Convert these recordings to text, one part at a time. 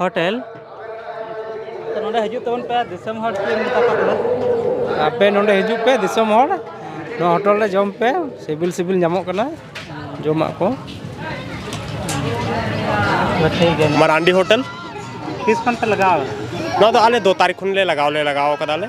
hotel ᱱᱚᱰᱮ ᱦᱤᱡᱩᱜ ᱛᱟᱵᱚᱱ ᱯᱮ ᱫᱤᱥᱚᱢ ᱦᱚᱲ ᱟᱯᱮ ᱱᱚᱰᱮ ᱦᱤᱡᱩᱜ ᱯᱮ ᱫᱤᱥᱚᱢ ᱦᱚᱲ ᱱᱚᱣᱟ ᱦᱳᱴᱮᱞ ᱨᱮ ᱡᱚᱢ ᱯᱮ ᱥᱤᱵᱤᱞ ᱥᱤᱵᱤᱞ ᱧᱟᱢᱚᱜ ᱠᱟᱱᱟ ᱡᱚᱢᱟᱜ ᱠᱚ ᱢᱟᱨᱟᱱᱰᱤ ᱦᱳᱴᱮᱞ ᱛᱤᱥ ᱠᱷᱚᱱ ᱯᱮ ᱞᱟᱜᱟᱣ ᱱᱚᱣᱟ ᱫᱚ ᱟᱞᱮ ᱫᱚ ᱛᱟᱹᱨᱤᱠᱷ ᱠᱷᱚᱱ ᱞᱮ ᱞᱟᱜᱟᱣ ᱞᱮ ᱞᱟᱜᱟᱣ ᱠᱟᱫᱟᱞᱮ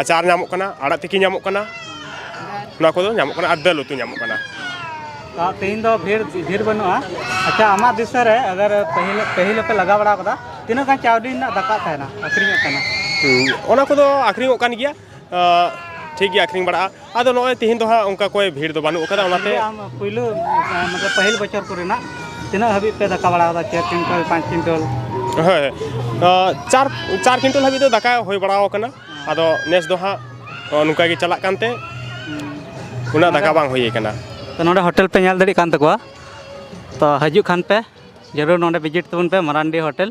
ᱟᱪᱟᱨ ᱧᱟᱢᱚᱜ ᱠᱟᱱᱟ ᱟᱲᱟᱜ ᱛᱤᱠᱤ ᱧᱟᱢᱚᱜ ᱠᱟᱱᱟ ᱱᱚᱣᱟ ᱠᱚᱫᱚ ᱧᱟᱢᱚᱜ ᱠᱟᱱᱟ ᱟᱨ ᱫᱟᱹᱞ ᱩᱛᱩ ᱧᱟᱢᱚᱜ ᱠᱟᱱᱟ ᱛᱮᱦᱮᱧ ᱫᱚ ᱵᱷᱤᱲ ᱵᱷᱤᱲ ᱵᱟᱹᱱᱩᱜᱼᱟ ᱟᱪᱪᱷᱟ ᱟᱢᱟᱜ ᱫᱤᱥᱟᱹ ᱨᱮ ᱟᱜᱟᱨ ᱯᱟᱹᱦᱤᱞ ᱯᱟᱹᱦᱤᱞ ᱯᱮ ᱞᱟᱜᱟᱣ ᱵᱟᱲᱟ ᱠᱟᱫᱟ ᱛᱤᱱᱟᱹᱜ ᱜᱟᱱ ᱪᱟᱣᱞᱮ ᱨᱮᱱᱟᱜ ᱫᱟᱠᱟ ᱛᱟᱦᱮᱱᱟ ᱟᱹᱠᱷᱨᱤᱧᱚᱜ ᱛᱟᱦᱮᱱᱟ ᱚᱱᱟ ᱠᱚᱫᱚ ᱟᱹᱠᱷᱨᱤᱧᱚᱜ ᱠᱟᱱ ᱜᱮᱭᱟ ᱴᱷᱤᱠ ᱜᱮ ᱟᱹᱠᱷᱨᱤᱧ ᱵᱟᱲᱟᱜᱼᱟ ᱟᱫᱚ ᱱᱚᱜᱼᱚᱭ ᱛᱤᱦᱤᱧ ᱫᱚ ᱦᱟᱸᱜ ᱚᱱᱠᱟ ᱠᱚᱭ ᱵᱷᱤᱲ ᱫᱚ ᱵᱟᱹᱱᱩᱜ ᱟᱠᱟᱫᱟ ᱚᱱᱟᱛᱮ ᱟᱢ ᱯᱩᱭᱞᱩ ᱢᱟᱱᱮ ᱯᱟᱹᱦᱤᱞ ᱵᱚᱪᱷᱚᱨ ᱠᱚᱨᱮᱱᱟᱜ ᱛᱤᱱᱟᱹᱜ ᱦᱟᱹᱵᱤᱡ ᱯᱮ ᱫᱟᱠᱟ ᱵᱟᱲᱟ ᱟᱠᱟᱫᱟ ᱪᱟᱨ ᱠᱩᱭᱤᱱᱴᱚᱞ ᱯᱟᱸᱪ ᱠᱩᱭᱤᱱᱴᱚᱞ ᱦᱮᱸ ᱪᱟᱨ ᱪᱟᱨ ᱠᱩᱭᱤᱱᱴᱚᱞ ᱦᱟᱹᱵᱤᱡ ᱫᱚ ᱫᱟᱠᱟ ᱦᱩᱭ ᱵᱟᱲᱟ ᱟᱠᱟᱱᱟ ᱟᱫᱚ ᱱᱮᱥ ᱫᱚ ᱦᱟᱸᱜ ᱱᱚᱝᱠᱟ ᱜᱮ ᱪᱟᱞᱟᱜ ᱠᱟᱱᱛᱮ ᱩᱱᱟᱹᱜ ᱫᱟᱠᱟ ᱵᱟᱝ ᱦᱩᱭ ᱟᱠᱟᱱᱟ ᱛᱚ ᱱᱚᱰᱮ ᱦᱳᱴᱮᱞ ᱯᱮ ᱧᱮᱞ ᱫᱟᱲᱮᱭᱟᱜ ᱠᱟᱱ ᱛᱟᱠᱚᱣᱟ ᱛᱚ ᱦᱤᱡᱩᱜ ᱠᱷᱟᱱ ᱯᱮ ᱡᱟᱹᱨᱩᱲ ᱱᱚᱰᱮ ᱵᱷᱤᱡᱤᱴ ᱛᱟᱵᱚᱱ ᱯᱮ ᱢᱟᱨᱟᱱᱰᱤ ᱦᱳᱴᱮᱞ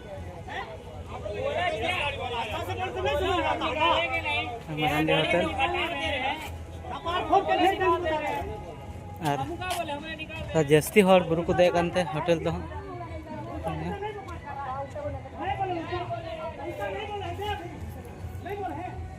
ᱦᱟᱱᱰᱤ ᱦᱳᱴᱮᱞ ᱟᱨ ᱡᱟᱹᱥᱛᱤ ᱦᱚᱲ ᱵᱩᱨᱩ ᱠᱚ ᱫᱮᱡ ᱠᱟᱱᱛᱮ ᱦᱳᱴᱮᱞ ᱫᱚ ᱦᱟᱸᱜ